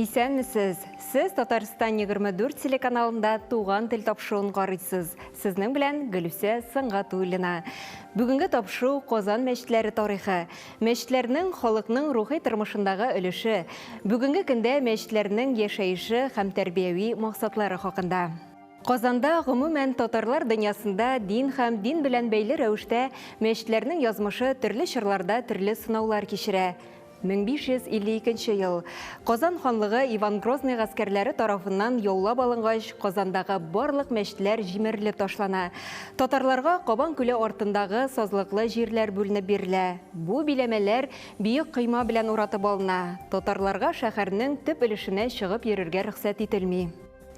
Исәнмесез! Сез Татарстан 24 телеканалында Туган тел тапшыруын карыйсыз. Сезнең белән Гөлүсә Сангатуллина. Бүгенге тапшыру Казан мәчетләре тарихы, мәчетләрнең халыкның рухи тормышындагы өлеше, бүгенге көндә мәчетләрнең яшәеше һәм тәрбияви максатлары хакында. Казанда, гомумән, татарлар дөньясында дин һәм дин белән бәйле рәвештә мәчетләрнең язмышы төрле чорларда төрле сынаулар кичерә. 1552 нче ел Казан ханлыгы Иван Грозный гаскәрләре тарафыннан яулап алынгач, Казандагы барлык мәчетләр җимерелеп ташлана. Татарларга Кабан күле артындагы сазлыклы җирләр бүленеп бирелә. Бу биләмәләр биек койма белән уратып алына. Татарларга шәһәрнең төп өлешенә чыгып йөрергә рөхсәт ителми.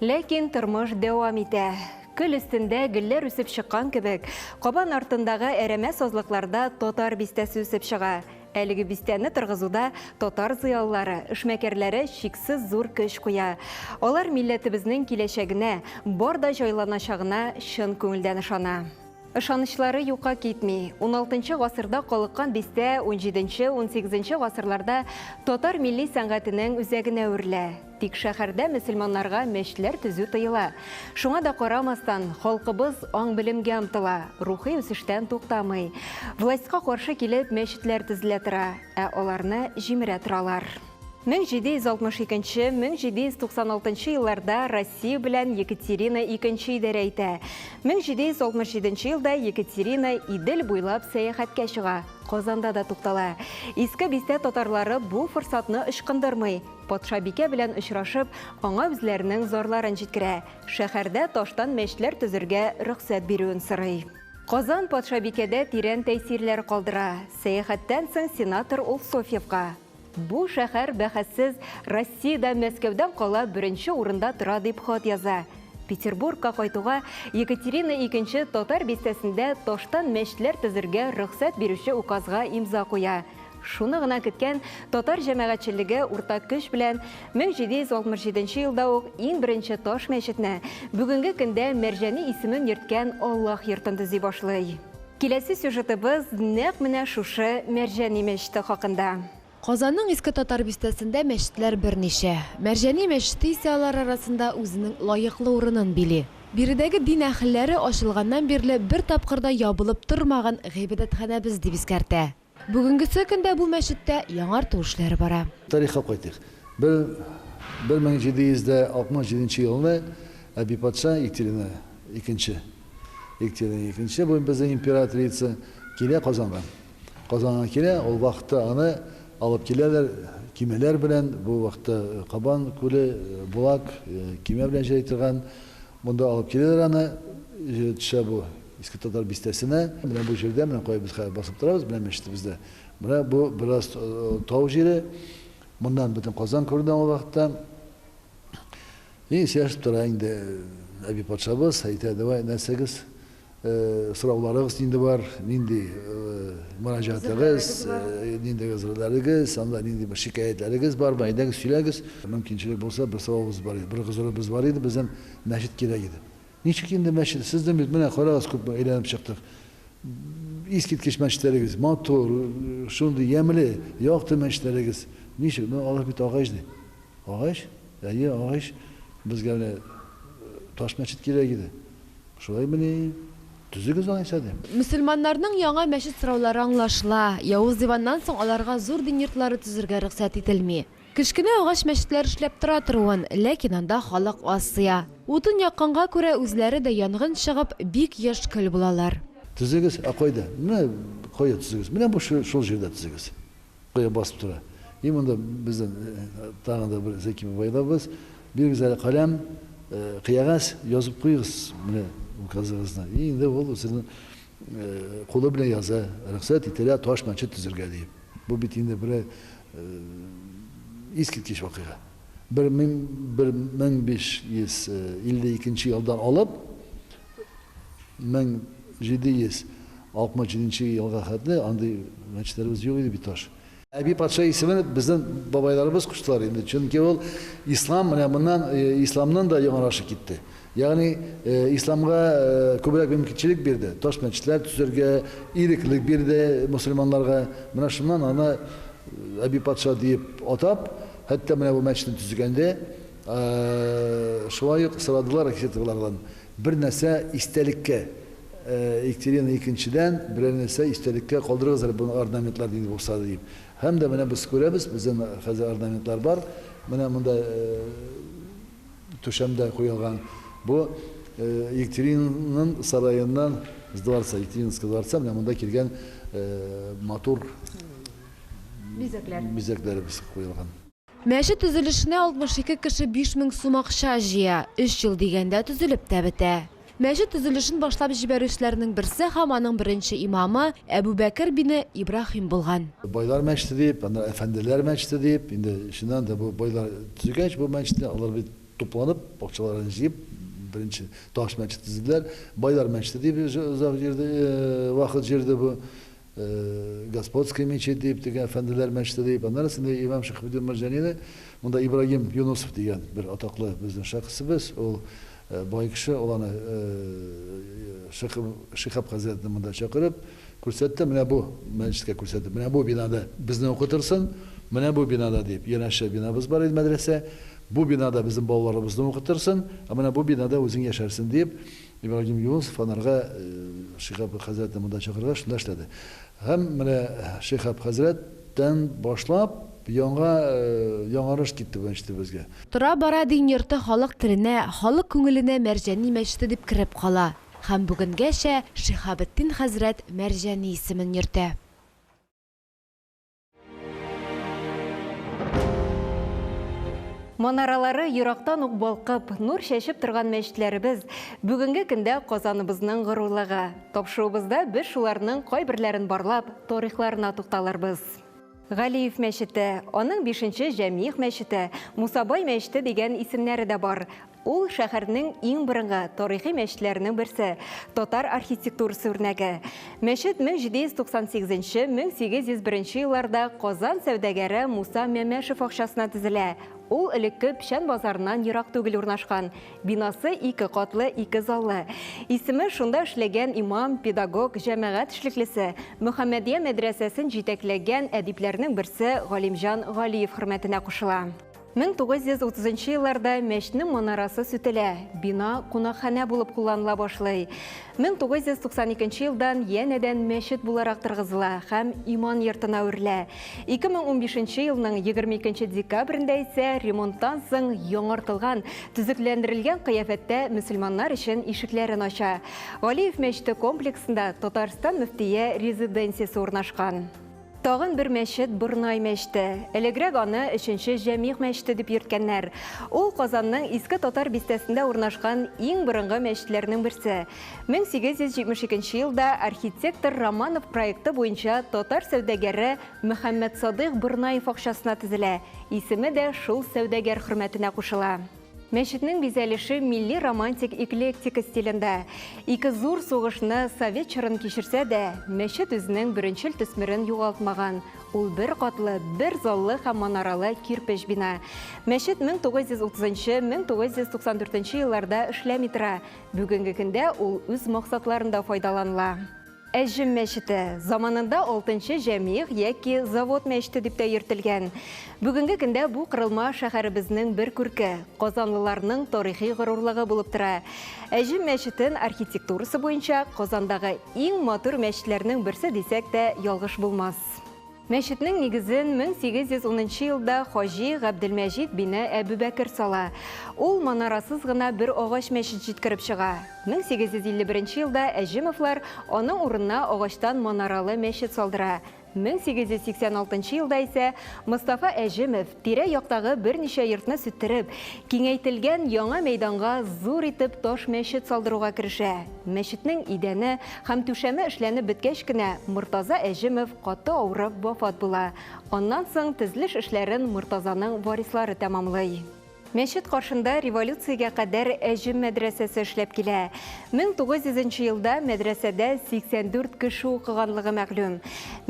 Ләкин тормыш дәвам итә. Көл өстендә гөлләр үсеп чыккан кебек, Кабан артындагы әрәмә сазлыкларда татар бистәсе үсеп чыга. Әлеге бистәне торгызуда татар зыялылары, эшмәкәрләре чиксез зур көч куя. Алар милләтебезнең киләчәгенә, бар да җайланачагына чын күңелдән ышана. Ышанычлары юкка китми. Уналтынчы гасырда калыккан бистә унҗиденче-унсигезенче гасырларда татар милли сәнгатенең үзәгенә әверелә. Тик шәһәрдә мөселманнарга мәчетләр төзү тыела. Шуңа да карамастан, халкыбыз аң-белемгә омтыла, рухи үсештән туктамый. Властька каршы килеп, мәчетләр төзелә тора, ә аларны җимерә торалар. 1762, 1796 елларда Россия белән Екатерина икенче идарә итә. 1767 елда Екатерина Идел буйлап сәяхәткә чыга, Казанда да туктала. Иске Бистә татарлары бу форсатны ычкындырмый. Патшабикә белән очрашып, аңа үзләренең зарларын җиткерә, шәһәрдә таштан мәчетләр төзергә рөхсәт бирүен сорый. Казан патшабикәдә тирән тәэсирләр калдыра. Сәяхәттән соң сенатор ул Софьевка, Бу шәһәр, бәхәссез, Россиядә Мәскәүдән кала беренче урында тора, дип хат яза. Петербургка кайтуга, Екатерина икенче Татар бистәсендә таштан мәчетләр төзергә рөхсәт бирүче указга имза куя. Шуны гына көткән татар җәмәгатьчелеге урта көч белән 1767 елда ук иң беренче таш мәчетне, бүгенге көндә Мәрҗәни исемен йөрткән Аллаһ йортын төзи башлый. Киләсе сюжетыбыз нәкъ менә шушы Мәрҗәни мәчете хакында. Казанның Иске Татар бистәсендә мәчетләр берничә. Мәрҗәни мәчете исә алар арасында үзенең лаеклы урынын били. Биредәге дин әһелләре ачылганнан бирле бер тапкыр да ябылып тормаган гыйбадәтханәбез дип искәртә. Бүгенгесе көндә бу мәчеттә яңарту эшләре бара. Тарихка кайтыйк. Бер 1767 нче елны әби патша Екатерина икенче, Екатерина икенче, бу безнең императрица, килә Казанга. Казанга килә, ул вакытта аны алып киләләр кимәләр белән, бу вакытта Кабан күле, Булак, кимә белән җәй торган, монда алып киләләр аны, төшә бу. Иске Татар бистәсенә, менә бу җирдә, менә кая без хәзер басып торабыз, менә мәчетебездә. Менә бу бераз тау җире, моннан бөтен Казан күренә ул вакытта. И, сөйләшеп тора инде әби патшабыз, әйтә, давай нәрсәгез, сорауларыгыз нинди бар, нинди мөрәҗәгатегез, нинди гозерләрегез, анда нинди бер шикаятьләрегез бармы, әйдәгез сөйләгез. Мөмкинчелек булса, бер сорауыбыз бар иде, бер гозеребез бар иде, безнең мәчет кирәк иде. Ничек инде мәчет? Сезнең бит, менә карагыз, күпме әйләнеп чыктык. Искиткеч мәчетләрегез, матур, шундый ямьле, якты мәчетләрегез. Ничек? Ну, алар бит агач, ди. Агач? Әйе, агач. Безгә менә таш мәчет кирәк иде. Шулаймыни? Төзегез алайса, дим. Мөселманнарның яңа мәчет сораулары аңлашыла. Явыз Иваннан соң аларга зур дин йортлары төзергә рөхсәт ителми. Кечкенә агач мәчетләр эшләп тора торуын, ләкин анда халык аз сыя. Утын якканга күрә үзләре дә янгын чыгып, бик еш көл булалар. Төзегез, ә кайда? Менә кая төзегез? Менә бу шул җирдә төзегез. Кая басып тора. И монда бездән тагын да бер Зәки бабайларыбыз. Бирегез әле каләм, кыягәз, язып куегыз менә указыгызны. И инде ул үзенең кулы белән яза, рөхсәт ителә таш мәчет төзергә диеп. Бу бит инде берәр искиткеч вакыйга. Бер мең бер мең биш йөз илле икенче елдан алып, мең җиде йөз алтмыш җиденче елга хәтле андый мәчетләребез юк иде бит, таш. Әби патша исемен безнең бабайларыбыз куштылар инде, чөнки ул ислам, менә моннан исламның да яңарашы китте. Ягъни, исламга күбрәк мөмкинчелек бирде, таш мәчетләр төзергә иреклек бирде мөселманнарга. Менә шуннан аны Әби патша диеп атап, хәтта менә бу мәчетне төзегәндә шулай ук сорадылар Ахисетовлардан, бер нәрсә истәлеккә, Екатерина икенчедән берәр нәрсә истәлеккә калдырыгыз әле бу орнаментлар нинди булса да дип. Һәм дә менә без күрәбез, бездә хәзер орнаментлар бар. Менә монда түшәм дә куелган. Бу Екатеринаның сараеннан, с дворца, Екатерининского дворца, менә монда килгән матур Бизәкләр. бизәкләребез куелган. Мәчет төзелешенә 62 кеше биш мең сум акча җыя. Өч ел дигәндә төзелеп тә бетә. Мәчет төзелешен башлап җибәрүчеләрнең берсе һәм аның беренче имамы Әбүбәкер бине Ибраһим булган. Байлар мәчете дип, аннары әфәнделәр мәчете дип, инде чыннан да бу байлар төзегәч бу мәчетне, алар бит тупланып, акчаларын җыеп, беренче таш мәчет төзеделәр. Байлар мәчете дип озак йөрде, вакыт йөрде бу. Господской мечеть дип, теге әфәнделәр мәчете дип, аннары соң инде имам Шиһабетдин Мәрҗанины, монда Ибраһим Юнысов дигән бер атаклы безнең шәхесебез, ул бай кеше, ул аны Шиһаб хәзрәтне монда чакырып, күрсәтте, менә бу мәчеткә күрсәтеп, менә бу бинада безне укытырсың, менә бу бинада дип, янәшә бинабыз бар иде мәдрәсә, бу бинада безнең балаларыбызны укытырсың, ә менә бу бинада үзең яшәрсең дип, Ибраһим Юнысов анарга Шиһ Аб хәзрәтне монда чакыргач, шунда эшләде. Һәм менә Шиһ Аб хәзрәт тән башлап, яңа яңарыш китте бу мәчетебезгә. Тора-бара дин йорты халык теленә, халык күңеленә Мәрҗани мәчете дип кереп кала. Һәм бүгенгәчә Шиһабетдин хәзрәт Мәрҗани исемен йөртә. Манаралары ерактан ук балкып, нур чәчеп торган мәчетләребез бүгенге көндә Казаныбызның горурлыгы. Тапшыруыбызда без шуларның кайберләрен барлап, тарихларына тукталырбыз. Галиев мәчете, аның бишенче Җәмигъ мәчете, Мусабай мәчете дигән исемнәре дә бар. Ул, шәһәрнең иң борынгы тарихи мәчетләренең берсе, татар архитектурасы үрнәге. Мәчет 1798-1801 елларда Казан сәүдәгәре Муса Мәмәшев акчасына төзелә. Ул элекке Печән базарыннан ерак түгел урнашкан. Бинасы ике катлы, ике заллы. Исеме шунда эшләгән имам, педагог, җәмәгать эшлеклесе, Мөхәммәдия мәдрәсәсен җитәкләгән әдипләрнең берсе Галимҗан Галиев хөрмәтенә кушыла. 1930 нчы елларда мәчтнең манарасы сүтелә, бина кунакханә булып кулланыла башлый. 1992 елдан янәдән мәчет буларак торгызыла һәм иман йортына әверелә. 2015 елның 22 декабрендә исә ремонттан соң яңартылган, төзекләндерелгән кыяфәттә мөселманнар өчен ишекләрен ача. Галиев мәчете комплексында Татарстан мөфтие резиденциясе урнашкан. Тагын бер мәчет Борнай мәчте. Элегрәк аны өченче Җәмигъ мәчте дип йөрткәннәр. Ул Казанның Иске Татар бистәсендә урнашкан иң борынгы мәчетләрнең берсе. 1872 елда архитектор Романов проекты буенча татар сәүдәгәре Мөхәммәтсадыйк Борнаев акчасына төзелә, исеме дә шул сәүдәгәр хөрмәтенә кушыла. Мәчетнең бизәлеше милли романтик эклектика стилендә. Ике зур сугышны, совет чорын кичерсә дә, мәчет үзенең беренчел төсмерен югалтмаган. Ул бер катлы, бер заллы һәм манаралы кирпеч бина. Мәчет 1930-1994 елларда эшләми тора. Бүгенге көндә ул үз максатларында файдаланыла. Әҗем мәчете, заманында алтынчы җәмигъ яки завод мәчете дип тә йөртелгән. Бүгенге көндә бу корылма шәһәребезнең бер күрке, казанлыларның тарихи горурлыгы булып тора. Әҗем мәчетен архитектурасы буенча Казандагы иң матур мәчетләрнең берсе дисәк тә ялгыш булмас. Мәчетнең нигезен 1810 нчы елда хаҗи Габделмәҗид бине Әбүбәкер сала. Ул манарасыз гына бер агач мәчет җиткереп чыга. 1851 нче елда Әҗемовлар аның урынына агачтан манаралы мәчет салдыра. 1886 нчы елда исә Мостафа Әҗемов, Тирә-яктагы берничә йортны сүттереп, киңәйтелгән яңа мәйданга зур итеп таш мәчет салдыруга керешә. Мәчетнең идәне һәм түшәме эшләнеп беткәч кенә, Мортаза Әҗемов каты авырып вафат була. Аннан соң тезлеш эшләрен Мортазаның варислары тәмамлый. Мәчет каршында революциягә кадәр Әҗем мәдрәсәсе эшләп килә. Мең тугыз йөзенче елда мәдрәсәдә 84 кеше укыганлыгы мәгълүм.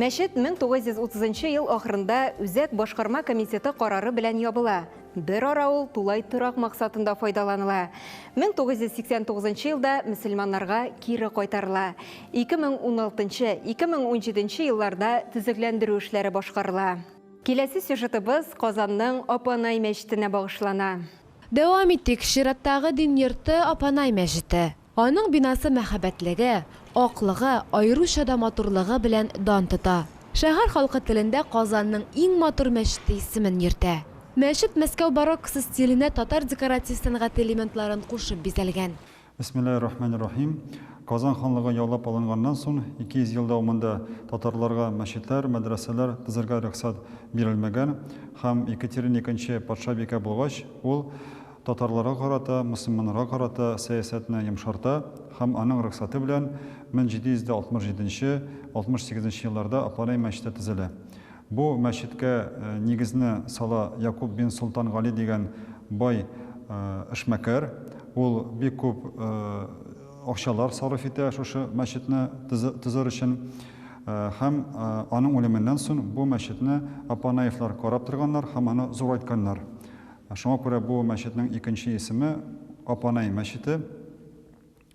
Мәчет 1930 ел ахырында үзәк башкарма комитеты карары белән ябыла. Бер ара ул тулай торак максатында файдаланыла. 1989 елда мөселманнарга кире кайтарыла. 2016, 2017 елларда төзекләндерү эшләре башкарыла. Киләсе сюжетыбыз Казанның Апанай мәчетенә багышлана. Дәвам итик, чираттагы дин йорты, Апанай мәчете. Аның бинасы мәһабәтлеге, аклыгы, аеруча да матурлыгы белән дан тота. Шәһәр халкы телендә Казанның иң матур мәчете исемен йөртә. Мәчет Мәскәү бароккосы стиленә татар декоратив сәнгате элементларын кушып бизәлгән. Бисмиллаһи рахмани рахим. Казан ханлыгы яулап алынганнан сон, 200 ел дәвамында татарларга мәчетләр, мәдрәсәләр тезергә рөхсәт бирелмәгән һәм Екатерина икенче патшабикә булгач, ул татарларга карата, мөселманнарга карата сәясәтне йомшарта һәм аның рөхсәте белән 1767-68 нче елларда Апанай мәчете тезелә. Бу мәчеткә нигезне сала Якуб бин Солтан Гали дигән бай эшмәкәр. Ул бик күп акчалар сарыф итә шушы мәчетне төзер өчен. Һәм аның үлеменнән сон бу мәчетне Апанаевлар карап торганнар һәм аны зурайтканнар. Шуңа күрә бу мәчетнең икенче исеме Апанай мәчете.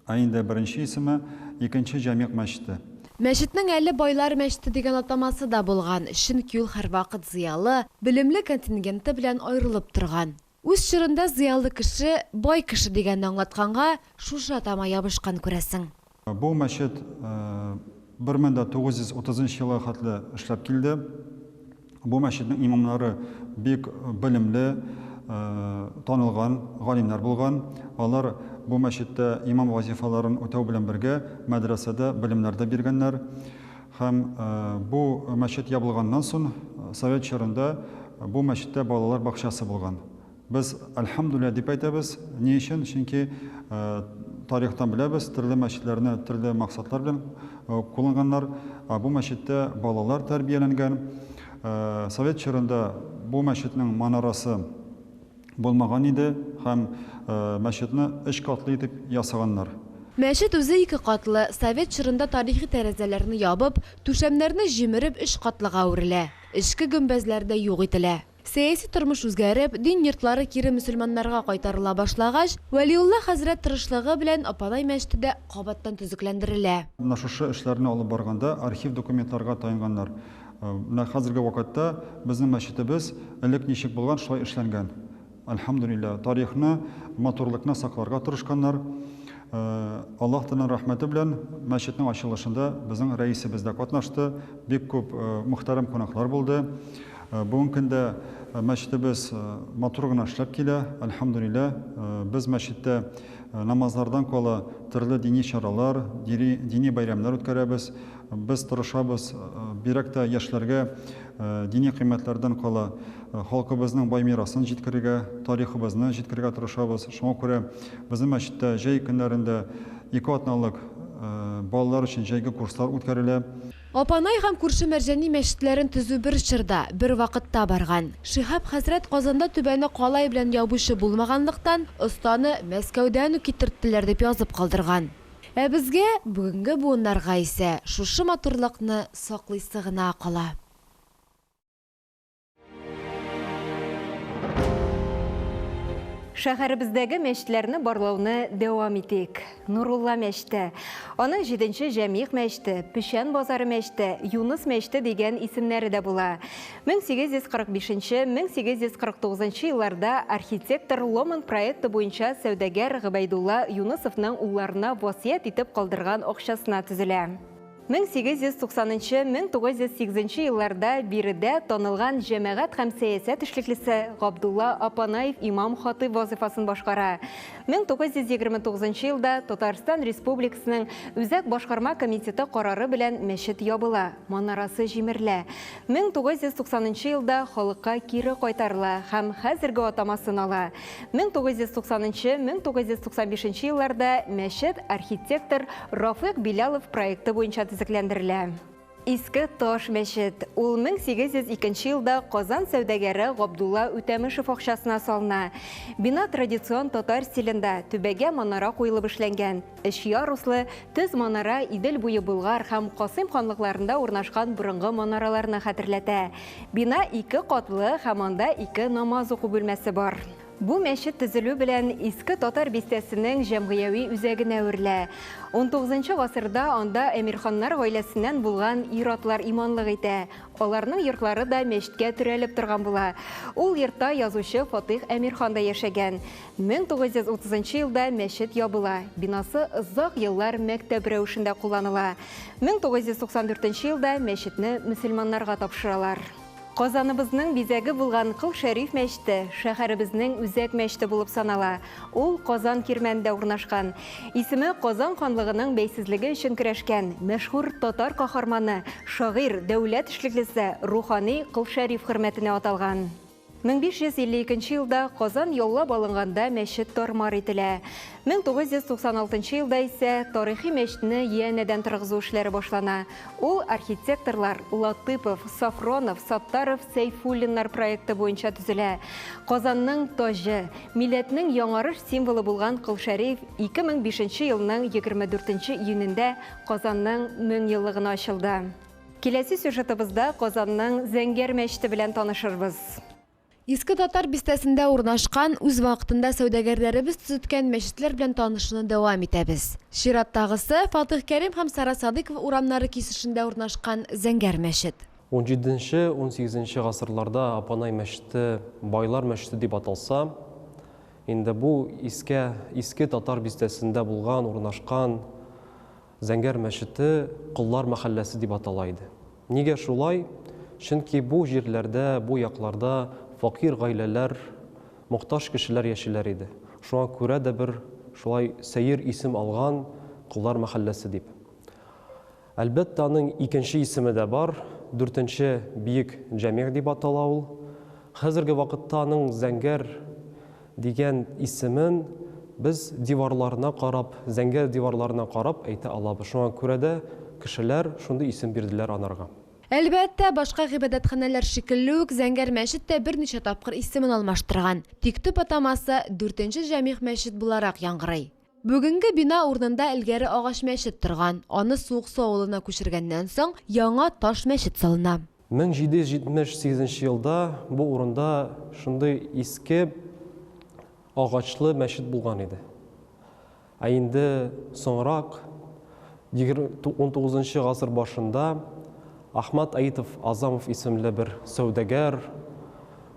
Ә инде беренче исеме, Икенче Җәмигъ мәчете. Мәчетнең әле Байлар мәчете дигән атамасы да булган, чөнки ул һәрвакыт зыялы, белемле контингенты белән аерылып торган. Үз чорында зыялы кеше, бай кеше дигәнне аңлатканга, шушы атама ябышкан, күрәсең. Бу мәчет бер мең дә тугыз йөз утызынчы елга хәтле эшләп килде. Бу мәчетнең имамнары бик белемле, танылган галимнәр булган. Алар бу мәчеттә имам вазифаларын үтәү белән бергә, мәдрәсәдә белемнәр дә биргәннәр. Һәм бу мәчет ябылганнан сон, совет чорында бу мәчеттә балалар бакчасы булган. Без Әлхәмдүлилләһ дип әйтәбез. Ни өчен? Чөнки тарихтан беләбез, төрле мәчетләрне төрле максатлар белән кулланганнар. Бу мәчеттә балалар тәрбияләнгән. Совет чорында бу мәчетнең манарасы булмаган иде һәм мәчетне өч катлы итеп ясаганнар. Мәчет үзе ике катлы, совет чорында тарихи тәрәзәләрне ябып, түшәмнәрне җимереп өч катлыга әверелә. Эчке гөмбәзләр дә юк ителә. Сәяси тормыш үзгәреп, дин йортлары кире мөселманнарга кайтарыла башлагач, Вәлиулла хәзрәт тырышлыгы белән Апанай мәчете дә кабаттан төзекләндерелә. Менә шушы эшләрне алып барганда архив документларга таянганнар. Менә хәзерге вакытта безнең мәчетебез элек ничек булган, шулай эшләнгән. Әлхәмдүлилләһ, тарихны, матурлыкны сакларга тырышканнар. Аллаһ Тәгаләнең рәхмәте белән мәчетнең ачылышында безнең рәисебез дә катнашты, бик күп мөхтәрәм кунаклар булды. Бүгенге көндә мәчетебез матур гына эшләп килә, әлхәмдүлилләһ. Без мәчеттә намазлардан кала төрле дини чаралар, дири, дини бәйрәмнәр үткәрәбез. Без тырышабыз, бигрәк тә яшьләргә дини кыйммәтләрдән кала халкыбызның бай мирасын җиткерергә, тарихыбызны җиткерергә тырышабыз. Шуңа күрә безнең мәчеттә җәй көннәрендә ике атналык балалар өчен җәйге курслар үткәрелә. Апанай һәм күрше Мәрҗани мәчетләрен төзү бер чорда, бер вакытта барган. Шиһап хәзрәт Казанда түбәне калай белән ябучы булмаганлыктан, останы Мәскәүдән үк китерттеләр дип язып калдырган. Ә безгә, бүгенге буыннарга исә шушы матурлыкны саклыйсы гына кала. Шәһәребездәге мәчетләрне барлауны дәвам итик. Нурулла мәчте, аның 7-нче Җәмигъ мәчте, Печән базары мәчте, Юныс мәчте дигән исемнәре дә була. 1845-1849 елларда архитектор Ломан проекты буенча сәүдәгәр Гыбәйдулла Юнысовның улларына васыять итеп калдырган акчасына төзелә. 1890 нчы 1908 нчы елларда биредә танылган җәмәгать һәм сәясәт эшлеклесе Габдулла Апанаев имам-хатыйб вазыйфасын башкара. 1929 нчы елда Татарстан Республикасының Үзәк башкарма комитеты карары белән мәчет ябыла, манарасы җимерелә. 1990 нчы елда халыкка кире кайтарыла һәм хәзерге атамасын ала. 1990 нчы, 1995 нче елларда мәчет архитектор Рафыйк Билялов проекты буенча төзекләндерелә. Иске Таш мәчет. Ул 1802 елда Казан сәүдәгәре Габдулла Үтәмешев акчасына салына. Бина традицион татар стилендә, түбәгә манара куелып эшләнгән. Өч яруслы төз манара Идел буе Болгар һәм Касыйм ханлыкларында урнашкан борынгы манараларны хәтерләтә. Бина ике катлы һәм анда ике намаз уку бүлмәсе бар. Бу мәчет төзелү белән Иске Татар бистәсенең җәмгыяви үзәгенә әверелә. Унтугызынчы гасырда анда әмирханнар гаиләсеннән булган ир-атлар иманлык итә. Аларның йортлары да мәчеткә терәлеп торган була. Ул йортта язучы Фатыйх Әмирхан да яшәгән. 1930 нчы елда мәчет ябыла, бинасы озак еллар мәктәп рәвешендә кулланыла. 1994 нче елда мәчетне мөселманнарга тапшыралар. Казаныбызның бизәге булган Кол Шәриф мәчете шәһәребезнең үзәк мәчете булып санала. Ул Казан кирмәнендә урнашкан. Исеме Казан ханлыгының бәйсезлеге өчен көрәшкән мәшһүр татар каһарманы, шагыйрь, дәүләт эшлеклесе, рухани Кол Шәриф хөрмәтенә аталган. 1552 нче елда Казан яулап алынганда мәчет тар-мар ителә. 1996 нчы елда исә тарихи мәчтне янәдән торгызу эшләре башлана. Ул архитекторлар Латыпов, Софронов, Саттаров, Сәйфуллиннар проекты буенча төзелә. Казанның таҗы, милләтнең яңарыш символы булган Кол Шәриф 2005 нче елның 24 нче июнендә Казанның 1000 еллыгына ачылды. Киләсе сюжетыбызда Казанның Зәңгәр мәчете белән танышырбыз. Иске Татар бистәсендә урнашкан, үз вакытында сәүдәгәрләребез төзеткән мәчетләр белән танышуны дәвам итәбез. Чираттагысы, Фатыйх Кәрим һәм Сара Садыйкова урамнары кисешендә урнашкан Зәңгәр мәчет. Унҗиденче, унсигезенче гасырларда Апанай мәчете Байлар мәчете дип аталса, инде бу искә Иске Татар бистәсендә булган, урнашкан. Зәңгәр мәчете Коллар мәхәлләсе дип атала иде. Нигә шулай? Чөнки бу җирләрдә, бу якларда факир гаиләләр, мохтаҗ кешеләр яшиләр иде. Шуңа күрә дә бер шулай сәер исем алган, Коллар мәхәлләсе дип. Әлбәттә, аның икенче исеме дә бар, Дүртенче биек җәмигъ дип атала ул. Хәзерге вакытта аның Зәңгәр. Дигән исемен без диварларына карап, зәңгәр диварларына карап әйтә алабыз. Шуңа күрә дә кешеләр шундый исем бирделәр анарга. Әлбәттә, башка гыйбадәтханәләр шикелле үк, Зәңгәр мәчет тә берничә тапкыр исемен алмаштырган. Тик төп атамасы, Дүртенче Җәмигъ мәчет буларак яңгырый. Бүгенге бина урынында элгәре агач мәчет торган, аны Суыксу авылына күчергәннән соң, яңа таш мәчет салына. 1778 елда бу урында шундый иске агачлы мәчет булган иде. Ә инде соңрак Егерме унтугызынчы гасыр башында Ахмат Аитов Азамов исемле бер сәүдәгәр,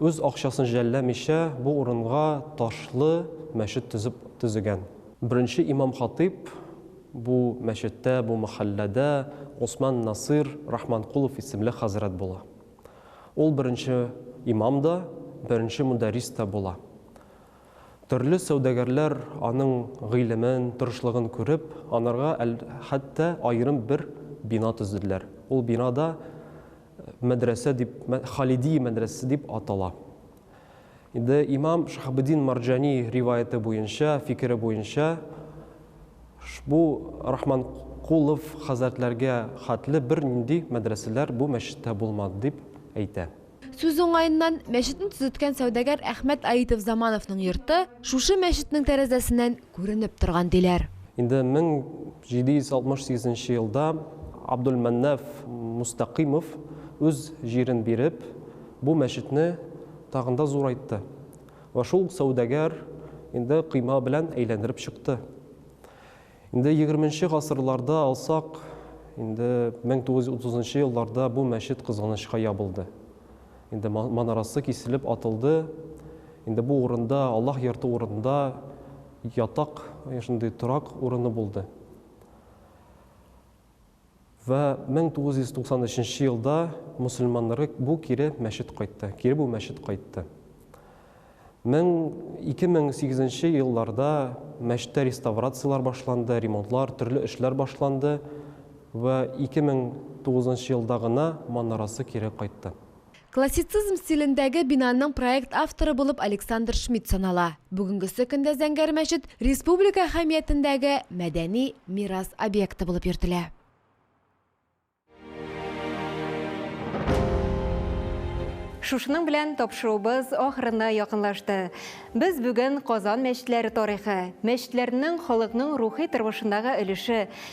үз акчасын жәлләмичә, бу урынга ташлы мәчет төзеп төзегән. Беренче имам-хатыйп бу мәчеттә, бу мәхәлләдә Госман Насыйр Рахманкулов исемле хәзрәт була. Ул беренче имам да, беренче мөдәррис тә була. Төрле сәүдәгәрләр аның гыйлемен, тырышлыгын күреп, анарга әл хәтта аерым бер бина төзеделәр. Ул бина да мәдрәсә дип, Халидия мәдрәсәсе дип атала. Инде имам Шахабеддин Марҗани риваяте буенча, фикере буенча, бу Рахманкулов хәзрәтләргә хәтле бернинди мәдрәсәләр бу мәчеттә булмады дип әйтә. Сүз уңаеннан, мәчетне төзеткән сәүдәгәр Әхмәт Аитов Замановның йорты шушы мәчетнең тәрәзәсеннән күренеп торган, диләр. Инде 1768 нче елда Абдулмәннаф Мустәкыймов үз җирен биреп, бу мәчетне тагын да зурайтты вә шул сәүдәгәр инде койма белән әйләндереп чыкты. Инде егерменче гасырларда алсак, инде 1930 нчы елларда бу мәчет кызганычка ябылды. Инде манарасы киселеп атылды. Инде бу урында, Аллаһ йорты урында ятак, шундый торак урыны булды. Вә 1993 елда мөселманнары бу кире мәчет кайтты, кире бу мәчет кайтты. 2008 нче елларда мәчеттә реставрацияләр башланды, ремонтлар, төрле эшләр башланды вә 2009 нчы елда гына манарасы кире кайтты. Классицизм стилендәге бинаның проект авторы булып Александр Шмидт санала. Бүгенгесе көндә Зәңгәр мәчет республика әһәмиятендәге мәдәни мирас объекты булып йөртелә. Шушының белән тапшыруыбыз ахырына якынлашты. Без бүген Казан мәчетләре тарихы, мәчетләрнең халыкның рухи тормышындагы өлеше,